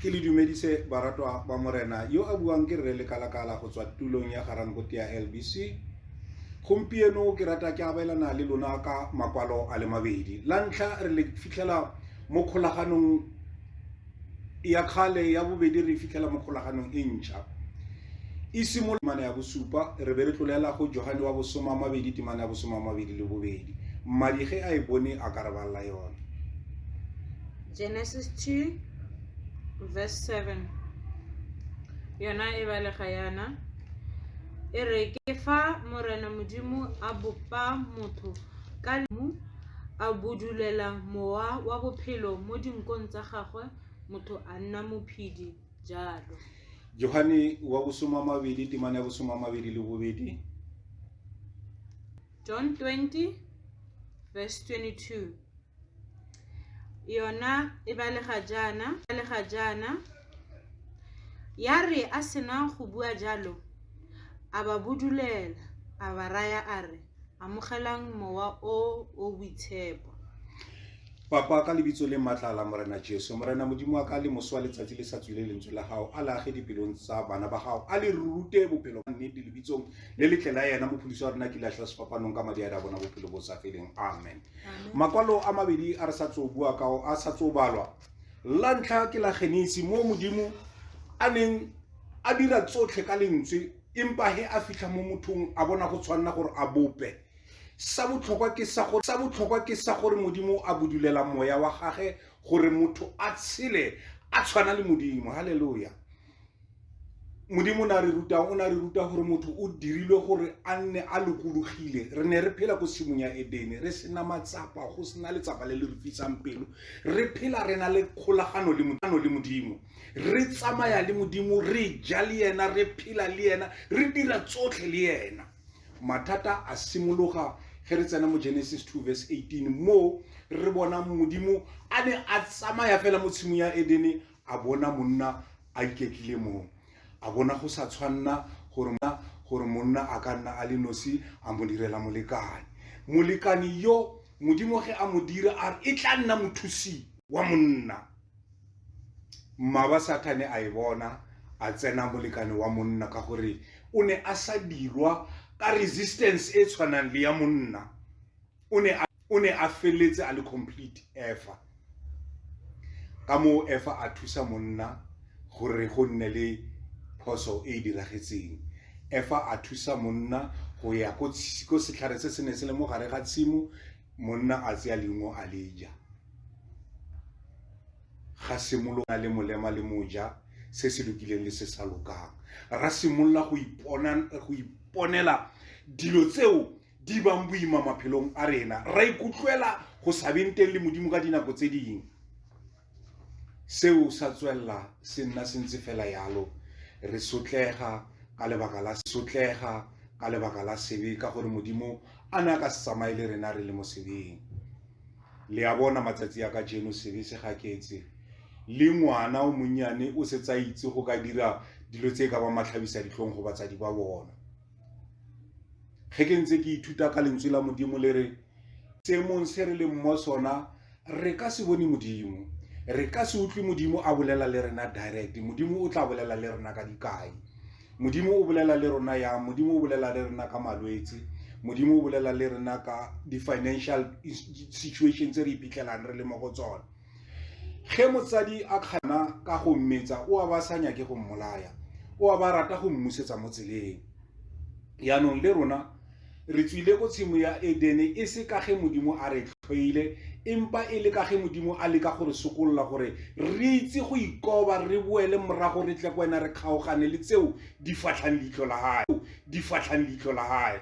ke le dumedise baratwa ba morena yo a buang ke rre lekalakala go tswa tulong ya garankote ya lbc gompieno ke rata ke abelana le lona ka makwalo a le mabedi la ntlha re le fitlhela mo kgolaganong ya kgale ya bobedi re fitlhela mo kgolaganong e ntšha e simolola temana ya bosupa re be re tlolela go johane wa bosoma a mabedi temana ya bosoma a mabedi le bobedi mmadi ge a e bone a ka re balela yone Genesis 2 verse 7 yona e balega yana e re ke fa morena modimo a bopa motho ka lemu a budulela mowa wa bophelo mo dinkong tsa gagwe motho a nna mophedi jalo johane wa bosoma mabedi temane ya bosoma mabedi le bobedi john 20 verse 22 yona e balega jaana balega jaana ya re a sena go bua jalo a ba budulela a ba raya a re amogelang mowa o o boitshepo papa ka lebitso le maatla la morena jesu morena modimo wa ka le moso wa letsatsi le sa tswile lentswe la gago a lage dipelong tsa bana ba gago a le rute bophelo ba nnete lebitsong le letle la yena mophodiso wa rena ke latlha sefapanong ka madi a re a bona bophelo bo sa feleng amen makwalo a mabedi a re sa tso bua ka o a sa tso balwa la ntlha ke la genesi mo modimo a neng a dira tsotlhe ka lentswe empa he a fitlha mo mothong a bona go tshwanela gore a bope sa botlhokwa ke sa gore sa botlhokwa ke sa gore modimo a bodulela moya wa gage gore motho a tshele a tshwana le modimo haleluya modimo o ne a re rutang o ne a re ruta gore motho o dirilwe gore a nne a lokologile re ne re phela ko tshimong ya edene re sena matsapa go sena letsapa le le re fisang pelo re phela re na le kgolagano le modimo re tsamaya le modimo re ja le yena re phela le yena re dira tsotlhe le yena mathata a simologa ge re tsena mo genesis 2 verse 18 moo re bona modimo a ne a tsamaya fela mo tshimong ya edene a bona monna a iketlile moo a bona go sa tshwanna gore gore monna a ka nna a le nosi a mo direla molekane molekane yo modimo ge a mo dira a re e tla nna mothusi wa monna mmaba sathane a e bona a tsena molekane wa monna ka gore o ne a sa dirwa ka resistance e tshwanang le ya monna o ne a feletse a le complete efa ka moo efa a thusa monna gore go nne le phoso e e diragetseng efa a thusa monna go ya ko setlhare se se ne se le mo gare ga tshimo monna a tseya leungo a le ja ga simolola le molema le moja se se lokileng le se sa lokang ra simolola go iponela dilo tseo di bang boima maphelong a rena ra ikutlwela go sa beng teng le modimo ka dinako tse ding seo sa tswelela se nna se ntse fela yalo re sotlega ka lebaka la sotlega ka lebaka la sebe ka gore modimo a ne a ka se tsamaye le rena re le mo sebeng le a bona matsatsi a ka jeno sebe se gaketse le ngwana o monnyane o setsa itse go ka dira dilo tse ka ba matlhabisa ditlhong go batsadi ba bona ge ke ntse ke ithuta ka lentswe la modimo le re seemong se re leng mo sona re ka se bone modimo re ka se utlwe modimo a bolela le rena direct modimo o tla bolela le rena ka dikai modimo o bolela le rona yang modimo o bolela le rena ka malwetse modimo o bolela le rena ka di-financial situation tse re iphitlhelang re le mo go tsone ge motsadi a kgana ka go mmetsa o a ba sa nyake go mmolaya o a ba rata go mmusetsa mo tseleng yaanong le rona re tswile ko tshimo ya edene e se ka ge modimo a re tlhoile empa e le ka ge modimo a leka go re sokolola gore re itse go ikoba re boele morago re tle ko wena re kgaogane le tseo di fatlhang leitlho la gae di fatlhang leitlho la gae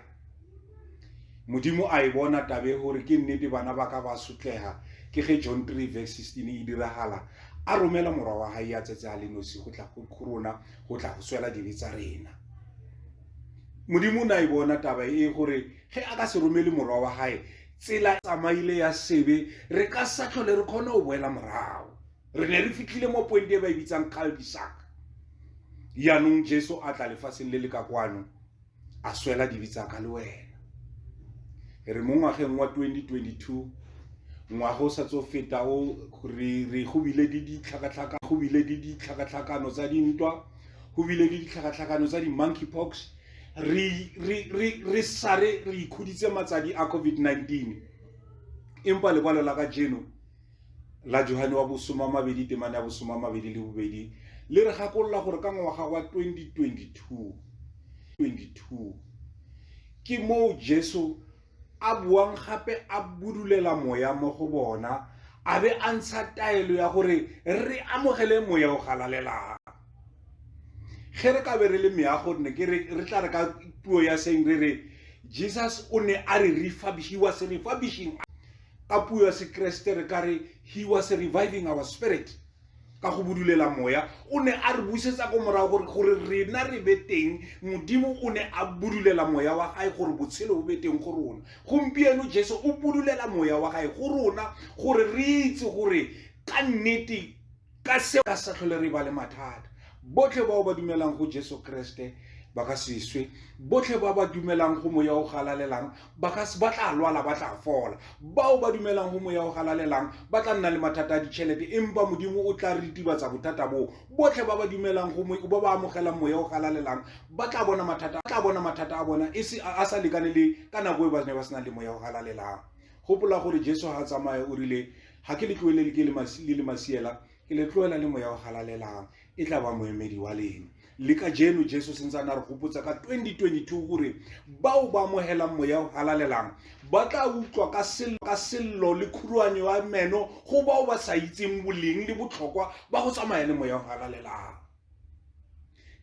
modimo a e bona tabe gore ke nnete bana ba ka ba sotlega ke ge john 3 verse 16 e diragala a romela morwa wa gae ya tsetse a le nosi go tla go rona go tla go swela dibe tsa rena modimo o ne a e bona taba e gore ge a ka se romele morwa wa gae tsela e tsamaile ya sebe re ka sa tlhole re kgone go boela morago re ne re fitlhile mo pointe e ba e bitsang calbisak yaanong jesu a tla lefatsheng le le ka kwano a swela dibe tsa ka le wena re mo ngwageng wa 2022 ngwago sa tso feta o re re go bile di ditlhakatlhaka go bile di ditlhakatlhakano tsa dintwa go bile di ditlhakatlhakano tsa di monkey pox re re re re sare re ikhuditse matsadi a covid-19 empa lekwalo la ka jeno la johane wa bosoma mabedi temane ya bosoma mabedi le bobedi le re gakolola gore ka ngwaga wa 2022 22 ke moo jesu a buang gape a budulela moya mo go bona a be a ntsha taelo ya gore re amogele moya o galalelang ge re ka be re le meago ne ke re tla re ka puo ya seng re re jesus o ne a re refurbishiwa se refurbishing ka puo ya sekeresete re ka re he was reviving our spirit ka go budulela moya o ne a re busetsa ko morago gore gore rena re be teng modimo o ne a budulela moya wa gae gore botshelo bo be teng go rona gompieno jesu o budulela moya wa gae go rona gore re itse gore ka nnete ka seo ka sa tlhole re ba le mathata botlhe bao ba dumelang go jesu kreste ba ka seswe botlhe ba ba dumelang go moya o galalelang ba tla lwala ba tla fola bao ba dumelang go moya o galalelang ba tla nna le mathata a ditšhelete empa modimo o tla ritibatsa bothata boo botlhe ba ba dumelang ba ba amogelang moya o galalelang ba tla bona mathata tla bona mathata a bona e a sa lekane le ka nako e ba ne ba sena le moya o galalelang gopola gore jesu ga a tsamaya o rile ga ke le tloelele ke le masiela ke le tloela le moya wa galalelang e tla ba moemedi wa lena le ka jeno jesu sentse a na re gopotsa ka 2022 gore bao ba amogelang moya o galalelang ba tla utlwa ka sello ka sello le khuruane wa meno go bao ba sa itseng boleng le botlhokwa ba go tsamaya le moya o galalelang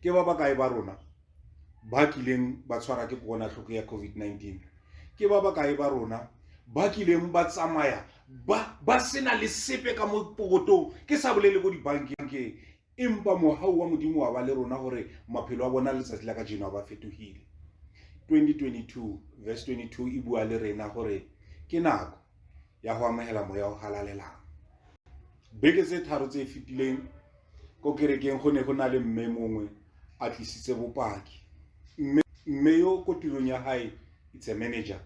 ke ba bakae ba rona ba kileng ba tshwara ke kokwanatlhoko ya covid-19 ke ba bakae ba rona ba kileng ba tsamaya ba ba sena le sepe ka mo pokotong ke sa bolele ko dibankeng empa mohau wa modimo wa ba le rona gore maphelo a bona letsatsi la ka jeno a ba fetogile 2022 verse 22 e bua le rena gore ke nako ya go amogela moya o galalelang beke tse tharo tse e fetileng ko kerekeng go ne go na le mme mongwe a tlisitse bopaki mme yo ko tirong ya gae it's a manager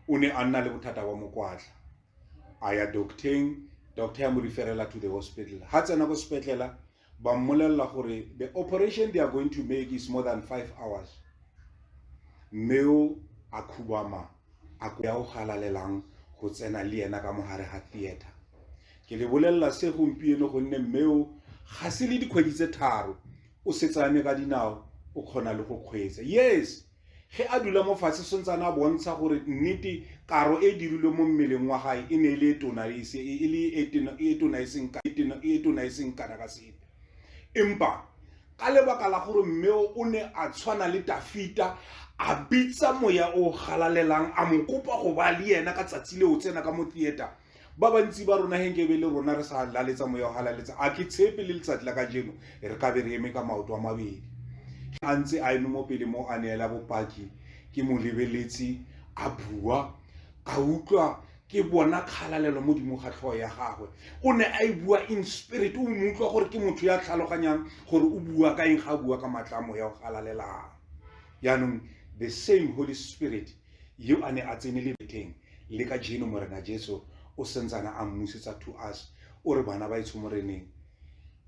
o ne a nna le bothata ba mokwatla a ya docteng doctor ya mo referela to the hospital ga tsena ko sepetlela ba mmolella gore the operation they are going to make is more than five hours mme o a khubama a ya o galalelang go tsena le ena ka mogare ga theater ke le bolelela se gompieno gonne mme o ga se le dikgwedi tse tharo o setsane ka dinao o kgona le go kgweetsa yes Ge a dula mo fatshe Sontsane a bontsha gore nnete karo e dirilwe mo mmeleng wa gae e ne e le e tona e se e le e tena e tona e seng ka e tena e tona e seng kana ka sepe empa ka lebaka la gore mmeo o ne a tshwana le Tafita a bitsa moya o galalelang a mo kopa go ba le yena ka tsatsi le o tsena ka mo theater ba bantsi ba rona ge nkebe le rona re sa laletsa moya ga laletsa a ke tshepe le letsatsi la ka jeno re ka be re eme ka maoto a mabedi a ntse a eme mo pele mo a neela bopaki ke mo lebeletse a bua ka utlwa ke bona kgalalelo mo dimo ga tlhogo ya gagwe o ne a e bua in spirit o mo utlwa gore ke motho ya tlhaloganyang gore o bua ka eng ga a bua ka matlamo ya go galalelang yaanong the same holy spirit Yo a ne a tsene lebetheng le ka jeno Morena Jesu o sentsana a mmusetsa to us o re bana ba etsho moreneng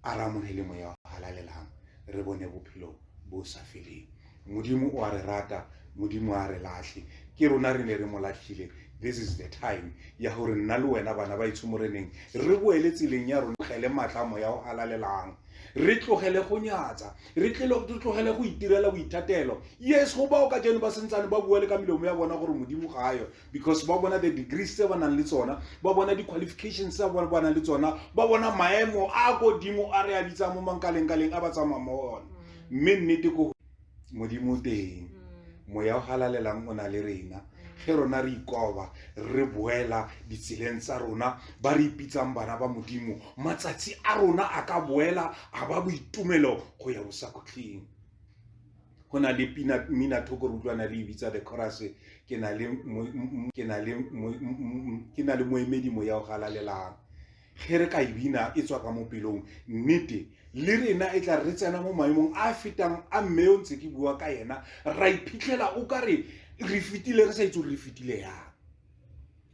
a re amogele moya wa halalelang re bone bophelo bo sa feleng modimo o a re rata modimo a re latlhe ke rona re ne re mo latlhile this is the time ya gore nna le wena bana ba etsho moreneng re boele tseleng ya rona gele maatla moya o halalelang re tlogele go nyatsa re tlogele go itirela boithatelo yes go bao ka jeno ba sentsane ba bua le ka melomo ya bona gore modimo ga ayo because ba bona the degrees tse ba nang le tsona ba bona di-qualifications tse ba nang le tsona ba bona maemo a kodimo a re a bitsang mo mankalengkaleng a ba tsamaya mo one mme nnete ko modimo o teng moya o galalelang o na le rena ge rona re ikoba re boela ditseleng tsa rona ba re ipitsang bana ba modimo matsatsi a rona a ka boela a ba boitumelo go ya bosakhutlheng go na le pina mmina thoko re utlwana le ibitsa the chorus ke na le moemedi moya o galalelang ge re ka e bina e tswa ka mo pelong nnete le rena e tla re tsena mo maemong a fetang a mme yo ntse ke bua ka yena ra iphitlhela o ka re re fetile re sa itse gore re fetile yang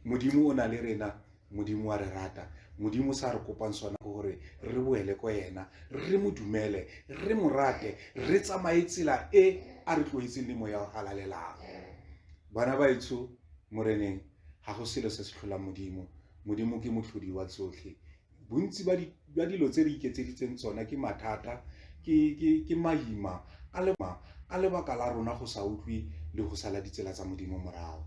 modimo o na le rena modimo wa re rata modimo sa re kopang sona ke gore re boele ko yena re mo dumele re mo rate re tsamaye tsela e a re tloetseng le moya o halalelang bana baetsho moreneng ga go selo se se tlholang modimo Modimo ke motlhodi wa tsotlhe bontsi ba dilo tse re iketseditseng tsona ke mathata ke maima a lebaka la rona go sa utlwe le go sala ditsela tsa modimo morago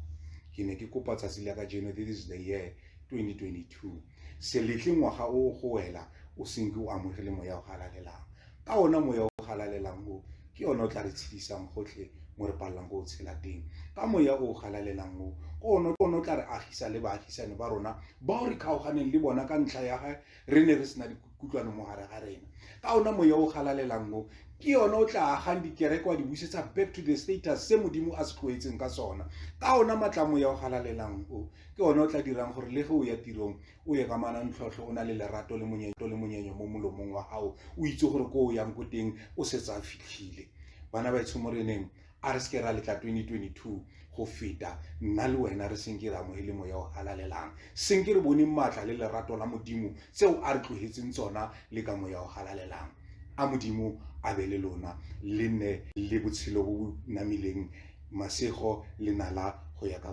ke ne ke kopa tsatsi la ka jeno this is the year 2022 seletle ngwaga o go wela o senke o amogele moya o galalelang ka ona moya o galalelang o ke ona o tla re tshedisang gotlhe mo re palelang go o tshela teng ka moya o galalelang o ke ona o tla re agisa le baagisane ba rona bao re kgaoganeng le bona ka ntlha ya ga re ne re sena dikutlwano mo gare ga rena ka ona moya o galalelang o ke yone o tla agang dikereke wa di busetsa back to the status se modimo a se tlhoetseng ka sona ka ona matlamoya o galalelang o ke one o tla dirang gore le ge o ya tirong o e kamana ntlhotlho o na le lerato le monyeto le monyenyo mo molomong wa gago o itse gore ko o yang ko teng o setse a fitlhile bana ba etsho mo reneng a re seke ra letla 2022 go feta nna le wena re senke re amogele moya o galalelang senke re bone maatla le lerato la modimo tseo a re tlogetseng tsona le ka moya o galalelang a modimo a be le lona le nne le botshelo bo bo namileng masego le nala go ya ka